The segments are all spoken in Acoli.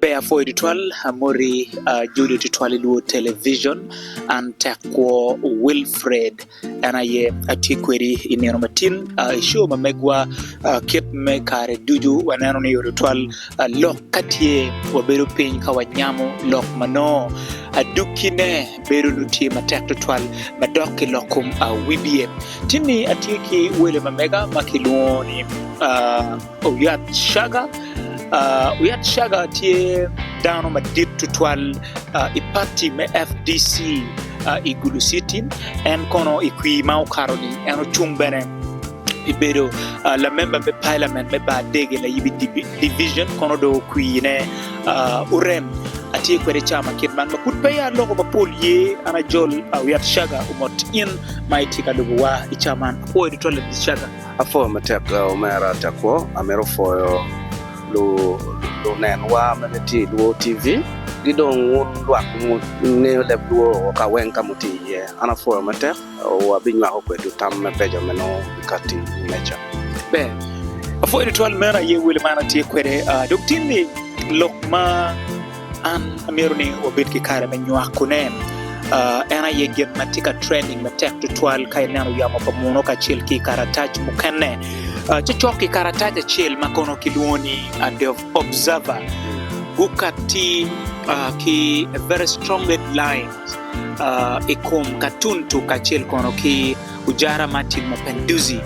Ber apwoyo tutwal amoti ajojo tutwal ilwor television an tek kwo Wilfred en aye atye kwedi i nino matin i show ma megwa kit me kare ducu waneno ni oyo tutwal lok ka tye wabedo piny ka wanyamo lok ma nongo adukki ne bedo nongo tye matek tutwal madok ki lok kom wibye tye ni atye ki welo ma mega ma kilwongo ni Oyat Shaga, Oyat Shaga tye dano madit tutwal i pati me FDC i Gulu City. En kono i kwi ma okato ni en ocung bene i bedo lamemba me Parliament me Bar Dege Layibi Division kono do okwi ne orem atye kwede ca ma kit man ma pud pe ya loko mapol ye an ajol Oyat Shaga omot in ma itye ka lubo wa i ca man apwoyo tutwal Ladit Shaga. Apwoyo matek omera Takwo, amito pwoyo lunenwa ma gitye i Luo TV ki dong wun lwak ma wungeyo leb Luo o ka weng ka ma wutye iye. An apwoyo matek, wabinywako kwedwu tam mabeco ma nongo wubikatti i meja. Ber. Apwoyo tutwal meno aye wel man atye kwede dok tin ni lok ma. An amyero ni wabed ki kare me nywakone. Uh, en aye gin ma tye ka trending matek tutwal ka ineno yamo pa muno kacel ki karatac mukene. Uh, cocok i karatac acel ma kono kilwongo ni uh, The Observer gukatti uh, ki a very strong headline uh, i kom katuntu kacel kono ki ujara Martin Mapinduzi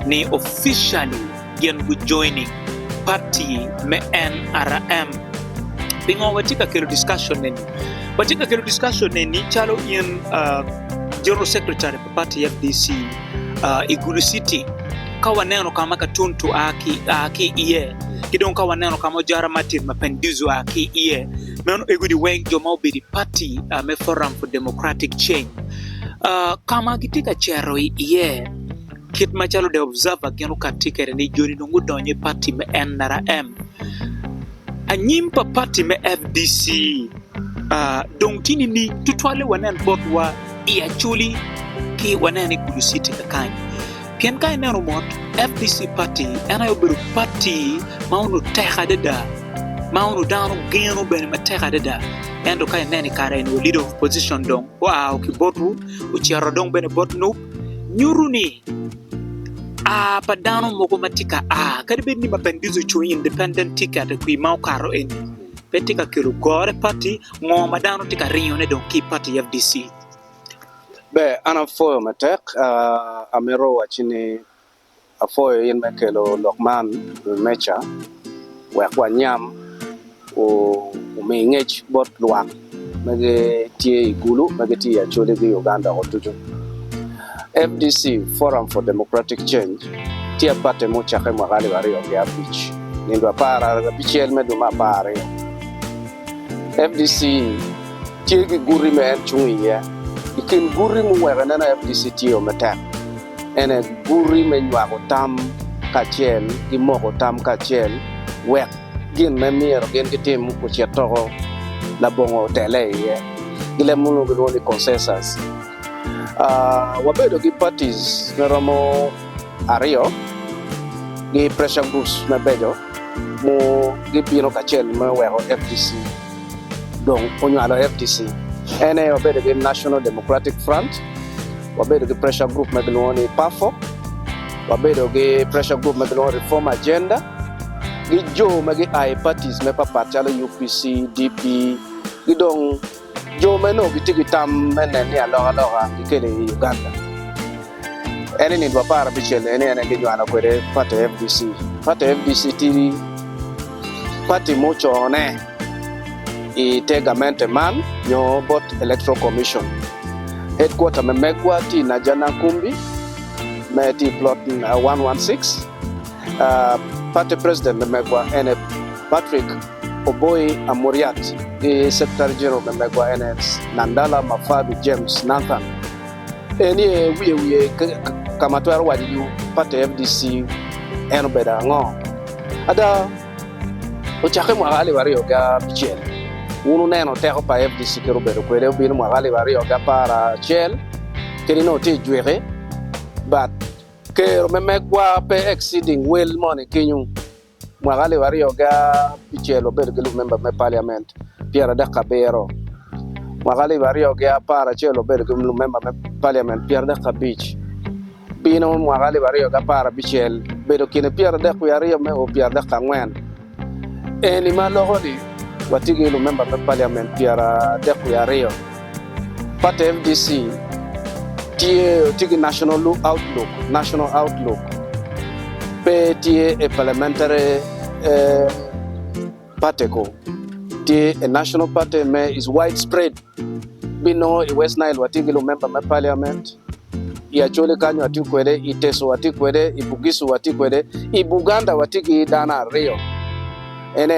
ni officially gin gujoining party me NRM. Pingo watye ka kelo discussion eni? Watye ka kelo discussion eni calo in uh, General Secretary pa party FDC uh, i Gulu City ka waneno ka ma Katuntu a ki, a ki iye ki dong ka waneno ka ma Ojara Martin ma Penduzu a ki iye meno egudi weng jo ma obedo i party uh, me Forum for Democratic Change uh, ka ma gitye ka cero iye Kit macalo The Observer gin okato tye kwede ni joni nongo gudonyo i pati me NRM. Anyim pa pati me FDC dong tye nining? Tutwalle wanen botwa i Acholi ki wanen i Gulu City kakany. Pien ka ineno mot, FDC pati en aye obedo pati ma onongo tek adada, ma onongo dano geno bene matek adada. Ento ka ineno i kare eni wa Leader of Opposition dong oa ki botwu ocito dong bene bot nup. nyuto ni a pa dano mogo ma tye ka a kadi bed ni ma bene ducu ocung i independent ticket i kwi ma okato eni pe tye ka kelo gore pati ngo ma dano tye ka ringo ne dong ki i pati FDC. Ber an apwoyo matek, amito wacci ni Apwoyo in me kelo lok man i wi meja wek wanyam omi ngec bot lwak ma gitye i Gulu ma gitye i Acholi ki Uganda woko ducu. FDC, Forum for Democratic Change, tye pati ma ocakke mwaka alip aryo ki abic nino apar abicel me dwe me apar aryo. FDC tye ki guti ma en cung iye. I kin guti muweko ineno FDC tye o metek. En aye guti me nywako tam kacel ki moko tam kacel wek gin me myero gin gitim ocit toko labongo otele iye. Gilem munu gilwongo ni consensus. Wabedo ki parties me romo aryo ki pressure groups mabeco mu gibino kacel me weko FDC. Dong onywalo FDC. En aye wabedo ki National Democratic Front, wabedo ki pressure group ma gilwongo ni PAFO, wabedo ki pressure group ma gilwongo Reform Agenda, ki jo ma gia i parties me papat calo UPC, DP, ki dong jo ma nongo gitye ki tam me nen ni alokaloka kikelo i Uganda. En i nit wapar abicel eni ene ginywalo kwede pati FDC. Pati FDC tidi pati mucone i te gamente man nyo bot Electoral Commission. Headquarter me megwa tye i Najjanankumbi me tye i plot 116. Pati President me megwa ene Patrick Oboi Amuriat ki Secretary General me megwa ene Nandala Mafabi James Nathan. Eni aye wiye wiye ka ma twero waco yung pa TFDC en obedo ango? Ada, ocakke mwaka alip aryo ki abicel wun wuneno teko pa FDC kit obedo kwede, obino mwaka alip aryo ki apar acel kadi nongo tye ijwiki but kero me megwa pe exceeding well moni kenyu. Mwaka alip aryo ki abicel wabedo ki lumemba me paliament pyeradek ki abiro. Mwaka alip aryo ki apar acel wabedo ki lumemba me paliament pyeradek ki abic. Bino mwaka alip aryo ki apar abicel bedo kine pyeradek wiye aryo me o pyeradek ki angwen. Eni ma loko-ni watye ki lumemba me paliament pyeradek wiye aryo. Pate FDC tye tye ki national look outlook national outlook pe tye e parliamentary party ko tye e national party me is wide spread bi nongo i west nile wa tye ki lumember me parliament i acholi kany wa tye kwede i teso wa tye kwede i bugisu wa tye kwede i buganda wa tye ki dano aryo ene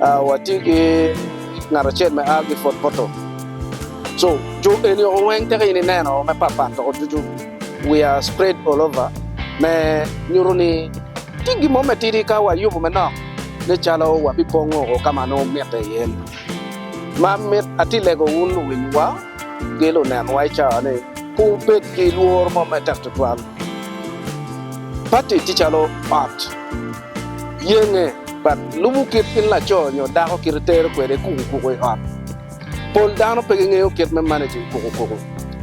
Watye ki ngat acel ma a ki Fort Portal. So, jo eni oko weng teke in ineno me pat pat oko ducu. We are spread all over me nyuto ni tye gin mo me tidi ka wayubo me nok ni calo wabipong oko ka ma nongo mitte iye ni. Ma mit ati lego wun luwinyowa ki lunenwa i cawa ni pe wubed ki lworo mo me tek tutwal. Pati tye calo ot. Yenge but lumu kit in laco nyo dako kit itero kwede kuku kuku i ot. Pol dano pe gingeyo kit me managing kuku kuku.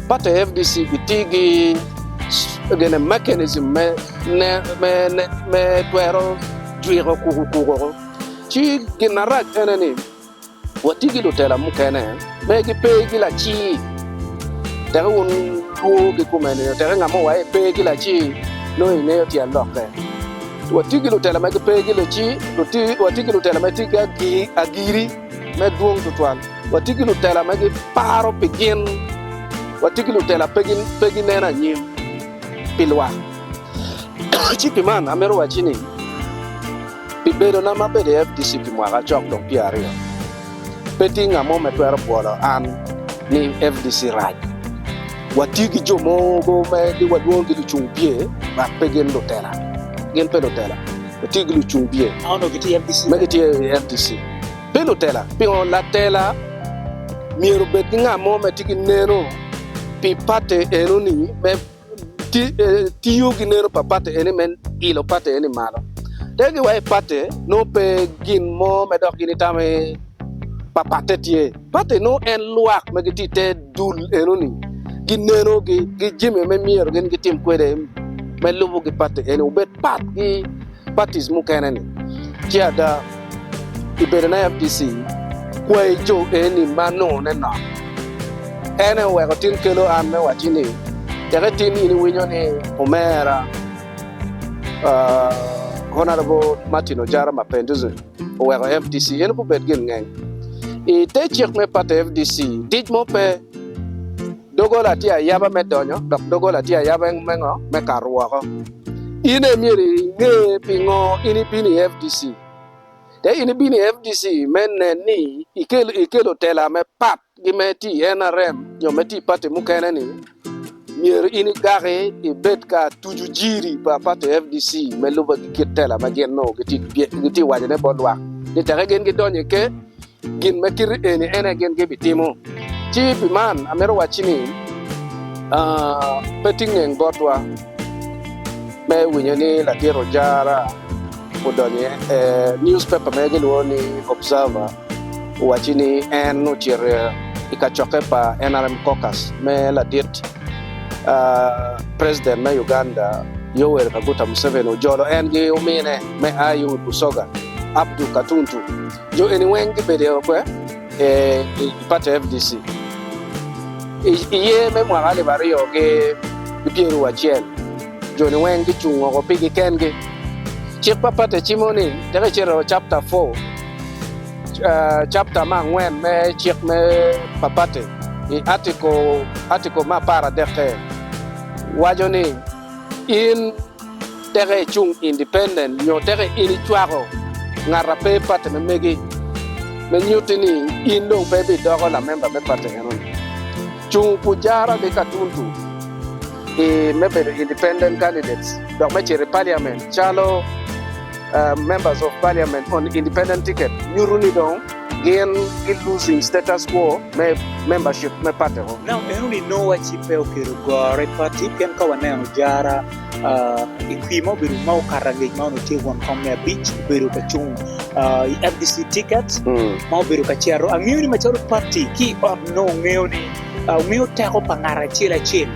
Party FDC giti gi gene mechanism me me twero jwiko kuku kuku. Ci gin arac ene ni Wati ki lutela mukene me gi pe gi laci teke wun two ki kume nino teke nga mo waye pe gi laci nongo ingeyo tyen lokke. Wati ki lutela me gi pe gi laci wati ki lutela me ti ki agiri me dwong tutwal wati ki lutela me gi paro pi gin wati ki lutela pe gi neno anyim pi lwak ci pi man amito waci ni Pi bedona ma abedo i FDC pi mwaka cok dong pyera aryo, pe tye ngat mo ma twero bwolo an ni FDC rac. Watye ki jo mogo ma giwalwongogi lucung bye dok pe gin lutela. Gin pe lutela, watye ki lucung bye ma gitye i FDC. Pe lutela. Pingo latela myero obed ki ngat mo ma tye ki neno pi pate eno-ni me? Tiyo ki neno pa patte eni me ilo patte eni malo. Tenge ki wa i patte, nongo pe gin mo ma dok in itamo ni pa patte tye. Patte nongo en lwak ma gitye i te dul enoni, gineno ki jami ma myero gin gitim kwede me lubo ki patte eni, obed pat ki. Batis mukene-ni. Ci ada, i bedo na MPC, kwayi jo eni ma nurune nok en aye oweko tin kelo an me wacci ni tek itin in iwinyo ni omera Honorable Martin Ojara Mapinduzi oweko MPC en pe obed gin ngeng. I te cik me pati FDC dic mo pe. Doggola tye ayaba me donyo, dok doggola tye ayaba me ngo? Me kato woko. In aye myero inge pingo in ibino i FDC. Te in ibino i FDC me nen ni ikelo tela me pat gi me ti i NRM nyo me ti i pati mukene ni, myero in igaki ibed ka tuju jiri pa pati FDC me lube ki kit tela ma gin onongo giti wacone bot lwak ni teke gin gidonyo i ker. Gin me kiti eni en aye gin gibitimo. Ci pi man amito wacci ni pe tye ngeng botwa me winyo ni latit ojara odonyo i newspaper ma gilwongo ni Observer owacci ni en ocito i kacokke pa nrm caucus me ladit President me Uganda Yoweri Kaguta Museveni ojolo en gi omine me Ayiud Busoga Abdu Katuntu. Jo eni weng gibedo i Okwe i pati fdc i yer me mwaka alip aryo ki pyerru wa acel. Jo ni weng gicung woko pigi ken gi. Cik pa pati cimo ni tek icito chapter four, chapter me angwen me cik me pa pati i article, article me apar adek-ke waco ni, In teke icung independent nyo teke in icwako ngat a pe pati me megi me nyutti ni in dong pe ibidoko lamemba me pati enoni. Cung ku jara ni ka tuntu i me bedo independent candidates dok me cito i Parliament calo Members of Parliament on Independent Ticket nyutu ni dong Gin gi losing status quo me membership me party ho. Now meno ni no waci pe okelo goro i party pien ka waneno jara uh, i kwi ma obedo ma okato angec ma onongo tye won kom me abic obedo ka cung uh, i FDC ticket Mm. ma obedo ka cero angeyo ni macalo party ki i ot no ongeyo ni uh, ongeyo teko pa ngat acel acel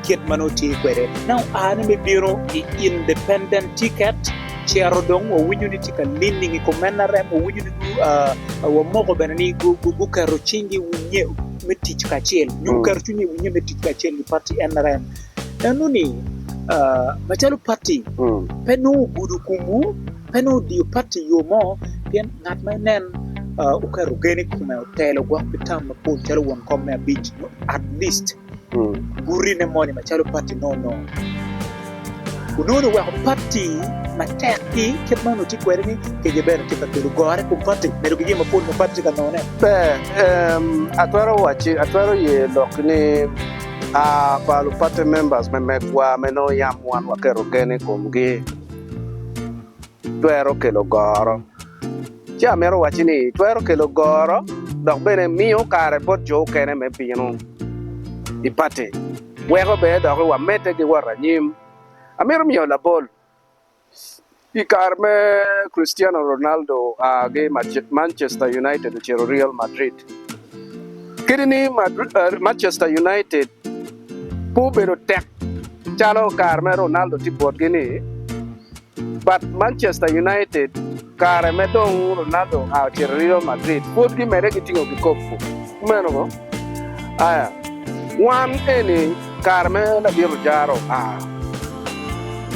kit ma nongo tye kwede. Na oa ni me bino i independent ticket, cero dong wawinyo ni tye ka leaning i komena rem, wawinyo ni uh, wamoko bene ni guketo cing i winye me tic kacel, nyo guketo cwiny i winye me tic kacel i party NRM. Eno ni, uh, macalo party, pe nongo ogudo kumwu, pe nongo odiyo party yo mo, pien ngat ma inen uh, oketo gen i kome otelo gwok pi tam mapol calo won kom me abic, nyo at least. Gurine moni macalo patti nono. Onongo ni weko patti matek ki kit ma onongo tye kwede ni kece bene tye ka kelo gore i kom patti medo ki jami mapol ma patti tye ka none. Pe, em, atwero wacci, atwero ye lok ni a balo patti members me megwa ma nongo yam wan waketo gen i komgi twero kelo goro. Ci amito wacci ni twero kelo goro dok bene miyo kare bot jo okene me bino i pati. Weko bene doki wamedde ki wot anyim. Amito miyo labol pi kare me Cristiano Ronaldo oa ki Manchester United ocito Real Madrid. Kadi ni Manchester United pe obedo tek calo kare ma Ronaldo tye botgi ni, But Manchester United kare me dong Ronaldo oa ocito i Real Madrid pwod gimede gitingo kikop pu kumeno bo. Aya, wan eni kare me labito jaro oa,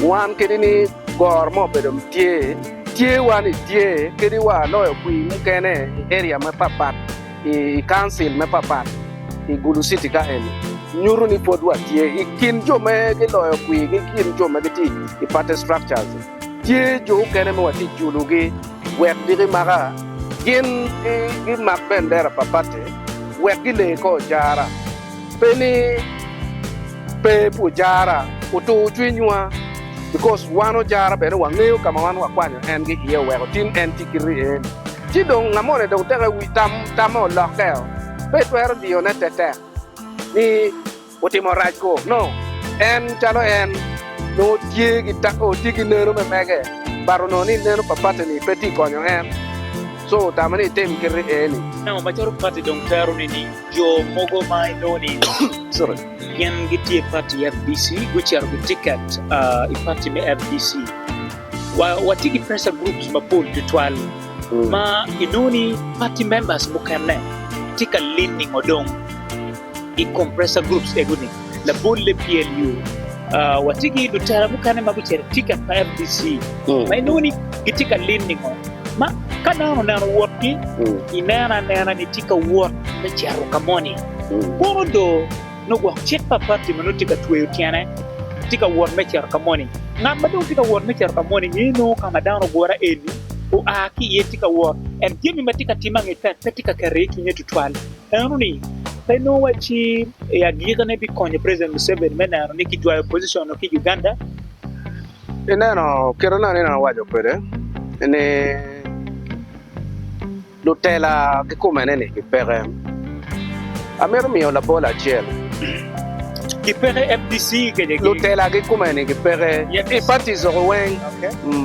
wan kadi ni goro mo obedo tye, tye wan i tye kadi wa loyo kwir mukene i area mapat pat. i kancil me papat i Gulu City ka eni nyutu ni pwod watye. I kin jo ma giloyo kwirgi ki jo ma gitye i party structures, tye jo okene ma watye julugi wek gikimaka, gin gimak bendera pa party wek giler kor jara. Pe ni pe pwo jara otur cwinywa, because wan ojara bene wangeyo kama wan wakwanyo en gi iye oweko tin en tye ki ri eni. Ci dong nga moni dong teke wi tam tamme olokke o pe twero diyo ne tetek ni otimo rac ko no en calo en nongo tye gi ta o tye gi neno me mege but onongo ni neno pa party ni pe tye konyo en so otame ni itim ki ri eni. Nanga ma third party dong tero ni ni Jo mogo ma inongo ni gin gitye i pati FDC gucito ki tiket i pati me FDC. Watye ki pressure groups mapol tutwal hmm. ma inongo ni pati members mukene tye ka leaning odong i kom pressure groups egoni. Labol LPLU, watye ki lutela mukene ma gucito tika pa FDC ma inongo ni gitye ka lin ningo? Ma ka dano oneno wotgi, ineno anena ni tye ka wot me cito ka moni. Kono do nongo gwok cik pa pati ma nongo tye ka tweyo tyene tye ka wot me cito ka moni. Ngat ma dong tye ka wot me cito ka moni ngeyo nongo ka ma dano ogure eni oa ki iye tye ka wot, ento jami ma tye ka timme ange pe tye ka keto iye cwinye tutwal. Eno ni, pe nongo wacci i agika ne bikonyo President Museveni me neno ni kijwayo opposition-o ki Uganda. Ineno kit aneno ni en owaco kwede ni lutela kikumeneni gipeke. Amito miyo labol acel. Gipeke FDC kece-gi. Lutela kikumeni gipeke i parties-o weng.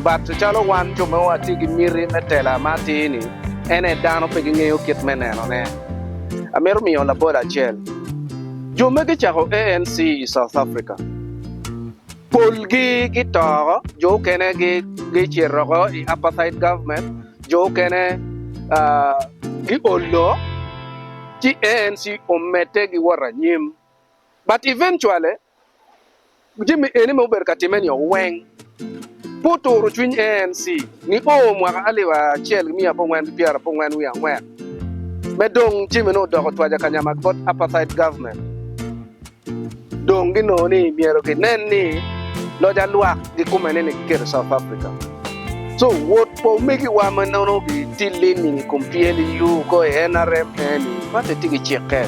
But calo wan jo ma watye ki miti me tela ma atir-ni, En aye dano pe gingeyo kit me nenone. Amito miyo labol acel. Jo ma gicako ANC i South Africa, polgi gito, jo okene gicito oko i apartheid government, jo okene giolo ci ANC omedde giwoto anyim. But eventually. Jami eni ma obedo ka timme nio weng pe oturo cwiny ANC nio mwaka alip acel gi miya abongwen ki pyera abongwen wiye angwen me dong Jimmy nongo odoko twaja kanyamak bot apartheid government dong gi nongo ni myero gi nen ni loc alwak gi kume ni gi keto South Africa so wot wa omegi wa ma nono gi ti lini i kom PLU ko i nrm eni ma pe ti gi cikke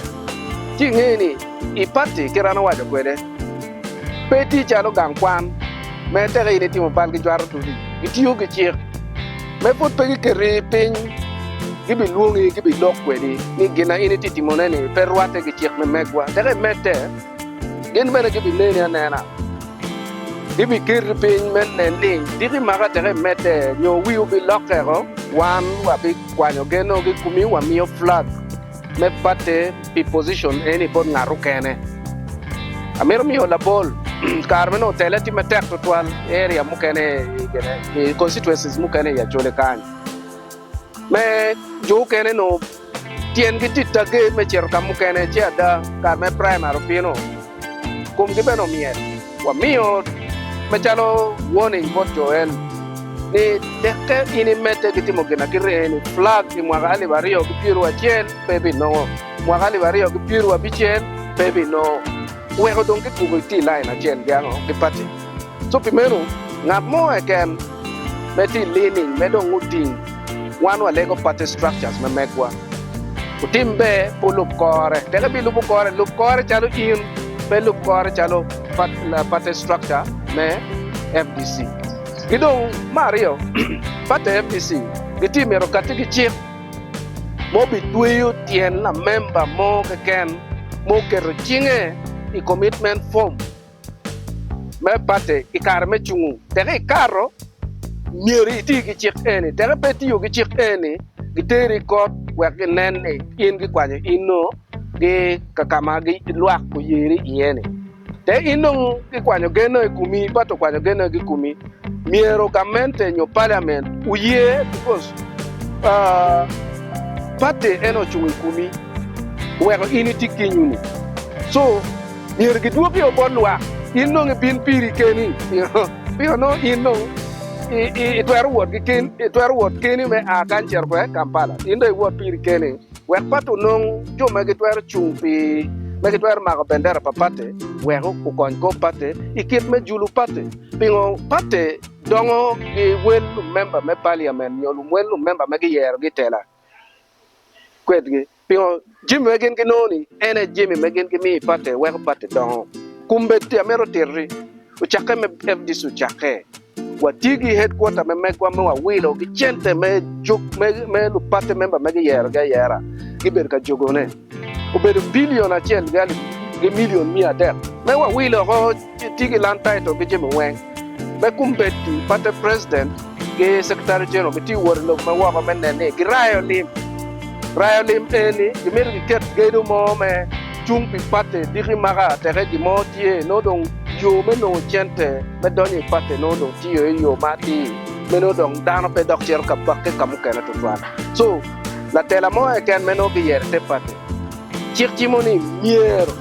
ci nge ni I patti, kit an owaco kwede, pe iti calo gang kwan me teke in itimo balgi jwato dudi. Gitiyo ki cik me pud pe giketi piny, gibilwongi, gibilok kwedi ni gin a in iti timone ni pe rwate ki cik me megwa, teke imedde. Gin bene gibileni anena, gibiketi piny me nen ni tiki maka teke imedde, nyo wiu bilokke ko. Wan wabikwanyo geno gi kumi wamiyo flag. Me batte pi position eni bot ngat okene. Amito miyo labol kare me nongo tele tye matek twatwal i area mukene i constituencies mukene i Acholi kany. Me jo okene nongo tyengi tye tage me cito kamukene ci ada kare me primary obino. Komgi bene omyel. Wamiyo macalo warning bot jo en ni tekke in imedde ki timo gin a kite eni, flag i mwaka alip aryo ki pyerwu acel pe ibinongo, mwaka alip aryo ki pyerwu abicel pe ibinongo. Weko dong gikuko iti lain acel gi ango? Gipati. Co pi meno, ngat mo keken me ti leaning me dong oting wan wa lego party structures me megwa. Otim ber pe olub kore, tek ebi lubu kore, lub kore calo in pe lub kore calo party structure me fdc. Ki dong me aryo, party fdc gi ti mito kati ki cik ma obi tweyo tyen la member mo keken ma oketo cinge i commitment form. Me patte i kare me cungo, tek ikato myero iti ki cik eni. Tek pe itiyo ki cik eni, giteri i kot wek ginen ni in gikwanyo in noo ki kakama lwak oyeri iye-ni. Te in dong gikwanyo genno i komi, patte okwanyo genno i komi, myero gamente nyo paliament oye bikos patte en ocungo i komi oweko in iti kinyu-ni. So. myero gidwogio bot lwak, in dong ibin piri keni, pien onongo in dong itwero wot keni me a kany cito kwede Kampala. In dong iwot piri keni, wek pati onong jo ma gitwero cung pi, ma gitwero mako bendera pa pati, wek okony kor pati i kit me julu pati. Pingo pati dongo giwel lumemba me paliamen nyo lumwel lumemba ma giyerogi i tela kwedgi? Pingo jami ma gin ginongo ni en aye jami ma gin gimiyo i patte weko patte dongo? Kombeddi amito titi, ocakke me FDC ocakke, watye ki headquarter me megwa ma wawilo ki cente me jug me lupatte member ma giyerogi ayera gibedo ka jugone obedo billion acel ki alip ki million miya adek me wawilo oko. Ki tye ki lan taito ki jemi weng me kumbeddi, Party President ki Secretary General gi tye wot i lobo me woko me nen ni gi rayo lim. Rayo lim eni gi mito gi ket gedo mo me cung pi party diki maka teke gi mo tye nongo dong yo me nongo cente me donyo i party nongo dong tiyo aye yo ma atir me nongo dong dano pe dok cito ka bakke ka mukene tutwal. So latela mo keken me nongo gi yero i te party. Cik cimo ni myero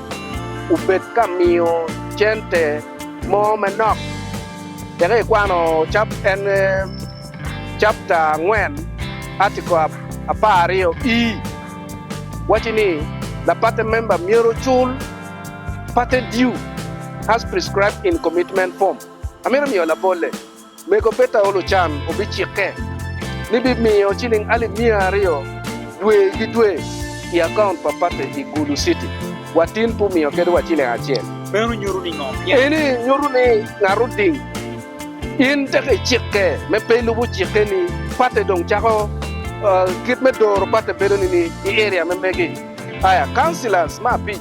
wubed ka miyo cente mo me nok. Tek ikwano cap en capta angwen atikal apar aryo ii, waci ni lapatte memba myero ocul patte due as prescribed in commitment form. Amito miyo labolle. Mego Peter Olucan obicikke ni bimiyo ciling alip miya aryo dwe ki dwe i akaunt pa pati i Gulu City wa tin pe omiyo kadi wa ciling acel. Meno nyuto ni ngo? Eni nyuto ni ngat oding. In tek icikke me pe ilubo cikke ni pati dong cako kit me doro pati bedo ni i area me megi. Aya, councillors me abic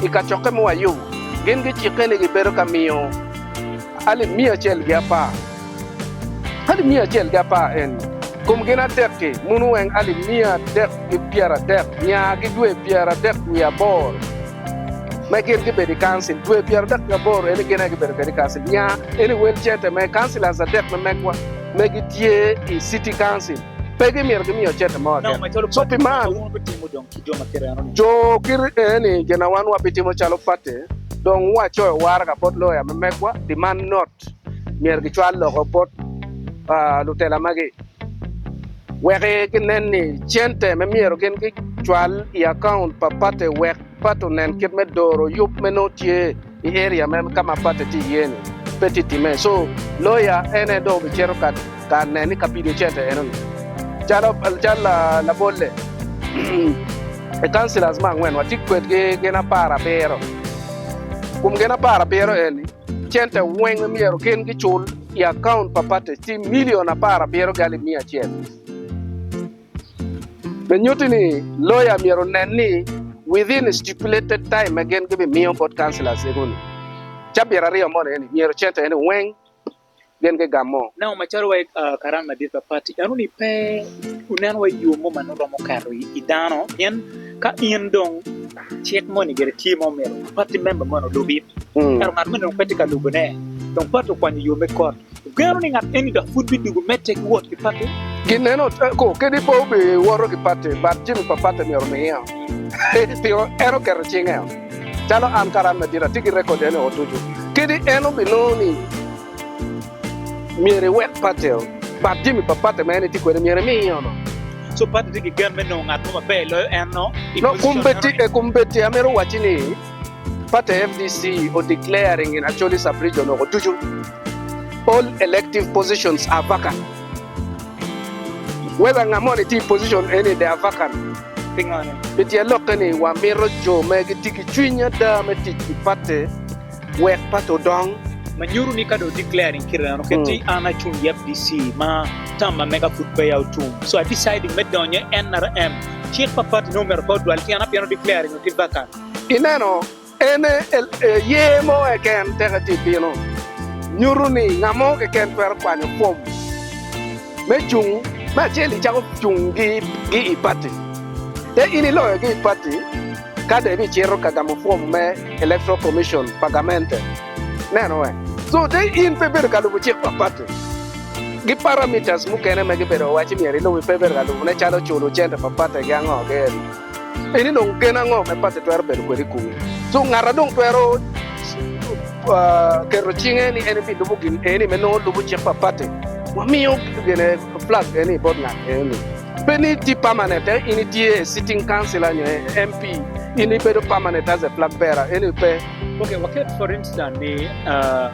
i kacokke me Wayubu gin gicikke ni gibedo ka miyo. Alip miya acel gi apar. Alip miya acel gi apar eni, kom gin adek-ki, muno weng alip miya adek ki pyeradek nya ki dwe pyeradek wiye aboro, me gin gibed i kancil. Dwe pyeradek ki aboro eni gin aye gibedo kwede i kancil. Nya eni wel cente me councilors adek me megwa ma gitye i city council. Pe gimito gimiyo cente mo keken. Co pi man. Jo kit eni gina wan wa bitimo calo party dong wa coyo warga bot lawyer me megwa pi man not myero gi cwal loko bot lutela magi weki gi nen ni cente me myero gin gi cwal i account pa party wek party onen kit me doro yub me no tye i area me ka ma party tye iye ni pe tye time so lawyer en aye dong obicito ka ka nen ni kapido ocete eno ni calo calo la labolle i councilors me angwen watye kwedgi gin apar abiro kum gin apar abiro eni cente weng ma myero gin gicul i account pa party tye million apar abiro ki alip miya acel Me nyutti ni lawyer myero onen ni within a stipulated time ma gin gibimiyo bot councillors ego ni ca pyera aryo mo ni myero cente eni weng gin gigammo. Now macalo wa Karani madit pa party eno ni pe wunen wa yo mo ma nongo romo keto i dano pien ka in dong cik mo ni gire tye ma omyero party member moni olubi ento ngat moni dong pe tye ka lubone dong party okwanyo yo me kot. Wugeno ni ngat eni dok pud bidugo medde ki wot ki patte? Gineno ko kadi pe obiwoto ki patte, bat jami pa patte myero omiyo. Pingo? En oketo cinge o. Calo an kara an madit atye ki rekod eno o ducu. Kadi en obinongo ni myero iwek patte o, bat jami pa patte ma en itye kwede myero imi i ono. Co patte tye ki gen me nongo ngat mo maber loyo en o i posicon meno ni? Kum bed tye, amito wacci ni. Party FDC o declaring in Acholi Sub-Region oko ducu. All elective positions are vacant. Whether nga moni tye i position eni they are vacant. Pingo ni? Pi tyen lokke ni wa mito jo me gi ti ki cwiny ada me tic ki party wek party odong. Ma nyutu ni ka do declaring kite eno kit ti an acung i FDC ma term ma mega pud peya otum so I deciding me donyo i NRM. Cik pa party nongo myero pe odwal tyen a pien o declaring o ti vacant. Ineno, en aye yer mo keken teke tye bino, nyuto ni ngat mo keken twero kwanyo fom me cung me acel icako cung gi i party. Tee in iloyo gi i party ka dong ibicito ka gamo fom me electoral commission pa gamente neno we so tee in pe ibedo ka lubo cik pa party gi parameters mukene me gibedo waci myero ilubi pe ibedo ka lubo ne calo culo cente pa party gi ango geri. Eni dong gen ango ma Patte twero bedo kwede i komi? Cung ngata dong twero keto cinge ni en ebilubo gin eni me nongo lubo cik pa Patte. Wamiyo gene flag eni bot ngat eni. Bed ni itye permanent ento in itye a sitting councillor nyo a MP, in ibedo permanent as a flag bearer eni pe. Ok, waket for instance ni.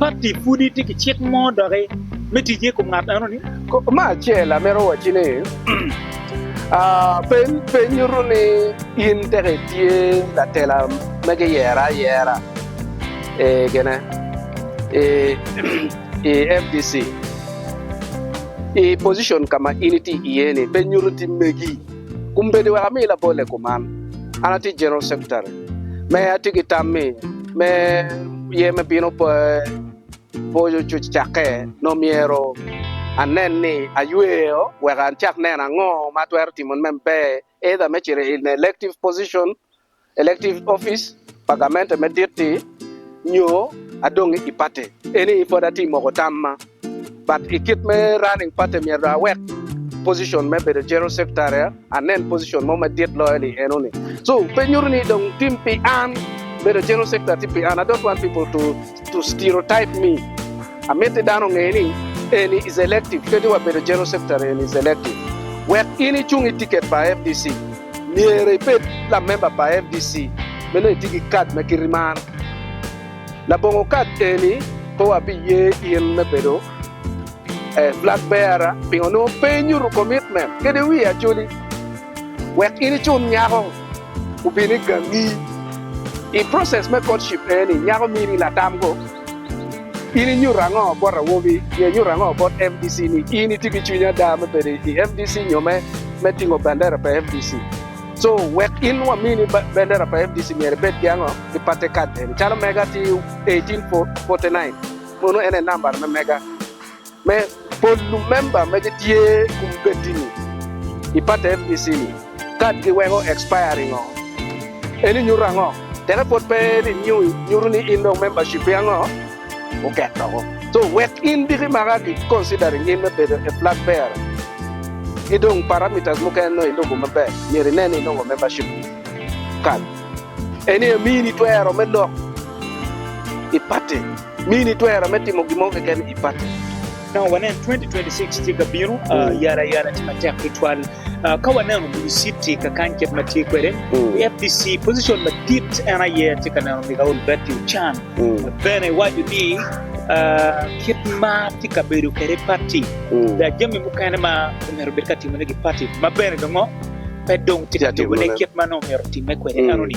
Patti pud itye ki cik mo doki me tic i kom ngat meno ni? Me acel amito wacci ni, pe pe nyuto ni in tek itye latela me giyera ayera i gine i FDC i position ka ma in itye iye ni pe nyuto timegi. Kombeddi wek ami labolle kuman. An atye General Secretary me atye ki tam ni me ye me bino pe pwoco coc cakke nongo myero anen ni ayweyo wek acak neno ango ma atwero timo me ber either me cito in elective position elective office, pa gamente me ditti, nyo adong i party eni pod atye moko tam ma but i kit me running party myero awek position me bedo general secretary anen position mo me dit loyo ni eno ni so pe nyuto ni dong tim pi an bedo general secretary tim pi an I don't want people to to stereotype me, Amiti dano onge ni eni is elective, kadi wa bedo General Secretary eni is elective. Wek in icung i ticket pa fdc, myero ibed lamemba pa fdc me nongo itye ki kad me kiti man. Labongo kad eni pe wa bi ye in me bedo flag bearer pingo nongo pe inyutu commitment kadi wiyi acoli wek in icun nyako. obine gangi i process me courtship ne ni nyako mini latam go in inyuto ango bot awobi nyo inyuto ango bot FDC ni in itye ki cwiny ada me bedo i FDC nyo me me tingo bendera pa FDC so wek in wamini bendera pa FDC myero ibed ki ango ki party card eni calo mega tye 1849 meno en aye number me mega. Me pol lumemba ma gitye kum betini i pate FEC ni kad gi weko expire ringo eni nyuto ango? Teke pwod pe renew nyuto ni in dong membership pi ango oket doko. So wek in diki maka ki considering in me bedo a flag bearer ki dong parameters mukene nongo ilubo maber myero inen ni inongo membership kad eni aye mini twero me lok i pate. Mini twero me timo gin mo keken i paco. Nongo wanen 2026 tye ka bino, ah, yara yara tye matek tutwal. Ah, ka waneno bulu city ka kany kit ma tye kwede i FDC, position madit en aye atye ka neno Miga Ol Betty Ochan ma bene waco ni ah, kit ma tye ka bedo kwede party da jami mukene ma omyero bed ka timo ne gi party ma bene dongo pe dong tye ka Tye ka timo lubone ne. kit ma nongo omyero time kwede enoni.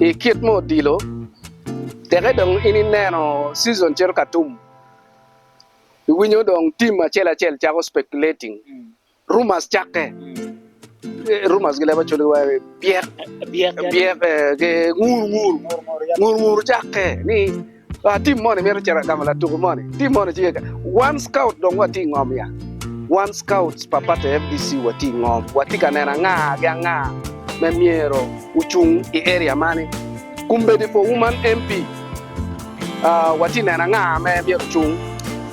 I kit ma odilo, teke dong in ineno season cito ka tum. Iwinyo dong team acel acel cako speculating, rumors cakke, rumors gilebo actually wayi byek, ngur ngur, ngur ngur cakke ni. Ah, tim moni mito cito agamo latuku moni. Tim moni ci ega. Wan scout dong watye i ngom ya. Wan scouts pa pate FDC watye i ngom. Watye ka neno anga ki anga me myero ocung i area mani. Kumbedi for woman MP, ah, watye neno anga me myero ocung.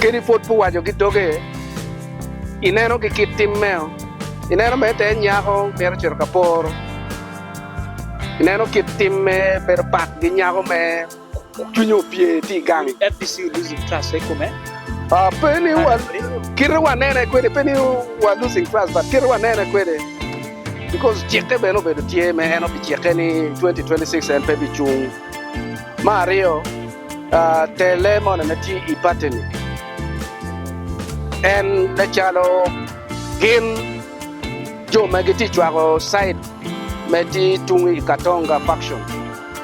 Kadi pud pe owaco ki doge, i neno ki kit tim meo, i neno me te nyako mito cito ka poro, i neno kit tim me bedo pat gi nyako me cwinye opye tye i gang. Pe ni wa kite wa nene kwede, pe ni wa losing trust but kite wa nene kwede because cikke bene obedo tye me en obi cikke ni 2026 en pe bi cung. Me aryo, ter lee moni ma tye i pateni en nen calo gin jo ma gitye ka cwako cid ma tye tung i Katonga faction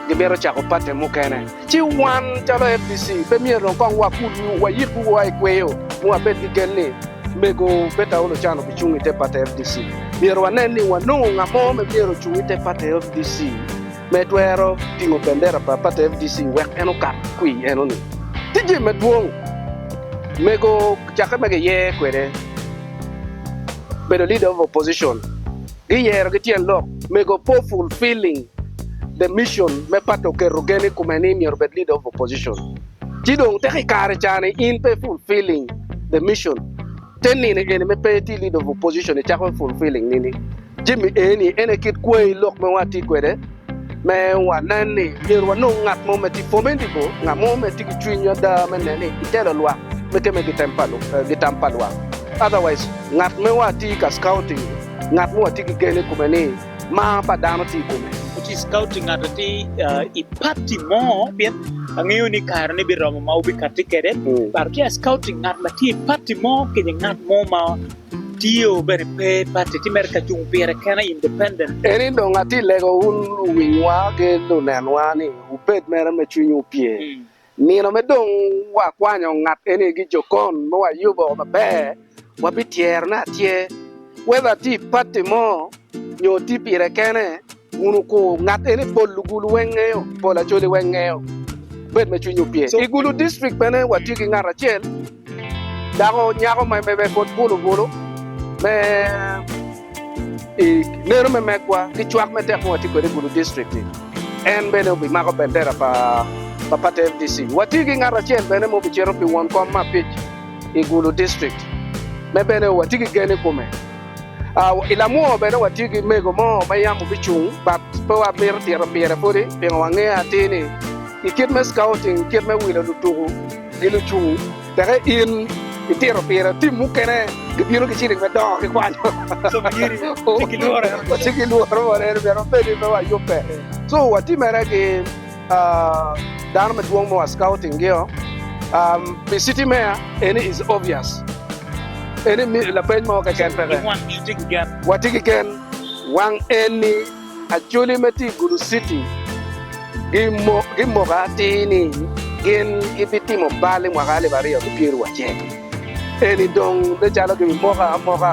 gimito cako pati mukene. Ci wan calo FDC pe myero kong wakulwu, wayik dwogo wa i kweyo nyo wabed ki gen ni Mego Peter Olucan obicung i te pati FDC. Myero wanen ni wanongo ngat mo ma myero ocung i te pati FDC. Me twero tingo bendera pa pati fdc wek en okat kwi enoni tye jami madwong mego cakke ma giye kwede bedo leader of opposition. Giyero ki tyen lok mego po fulfilling the mission me pati oketo gen i kome ni myero obed leader of opposition. Ci dong teka i kare cani in pe i fulfilling the mission. Te nino eni me pe iti lead of opposition icako fulfilling nini Jimmy eni ene kit kwai lok me wati kwede me wa nen ni myero wa nong ngat mo me ti fomendi bo ngat mo me ti ki cwiny ada me nen ni itelo lwak me keme gitem pa gi tam pa lwak otherwise ngat me wa ti ka scouting ngat me wa ti ki gen ikome ni Mar pa dano tye i kome. Wuti Scouting ngat atir i pati mo pien angeyo ni karene biromo ma wubikatti kwede. Mar wuti Scouting ngat ma tye i pati mo kenye ngat mo ma tio bene pe i pati ci mere ka cung pire kene, independent. Eni dong atye lego wun luwinywwa ki lunenwa ni wubed mere me cwinywu pye Nino me dong wakwanyo ngat eni gi jokon ma wayubo maber, wabityerone atyer. Whether tye i patti mo nyo tye pire kene, wun wukur ngat eni pol lugulu weng ngeyo, pol acoli weng ngeyo. Bed me cwiny opye. I Gulu District bene watye ki ngat acel. Dako nyako me me bot bulu bulu me neno me megwa ki cwak me tek ma watye kwede i Gulu district ni en bene obi mako bendera pa pa pate FDC. Watye ki ngat acel bene ma obi cito pi won kom ma apic i Gulu district me bene watye ki gen i kome. I Lamwo bene watye ki mego mo ma yam obi cung but pe wa mito tito pire pwodi pingo wa ngeyo atir ni i kit me scouting kit me wilo lutuku Gin ocung teke in itito pire tim mukene gibino ki ciling madongo ki kwanyo ci ki lworo wa en omyero wabedi pe wayubbe so watimere ki dano madwong ma wa scouting gio pi citi me eni is obvious eni lapeny mo keken peke watye ki gen wang en ni Acholi ma tye i Gulu Citi gimoka atir ni gin gibitimo bal i mwaka alip aryo ki pyerowacel eni dong nen calo gibimoka amoka.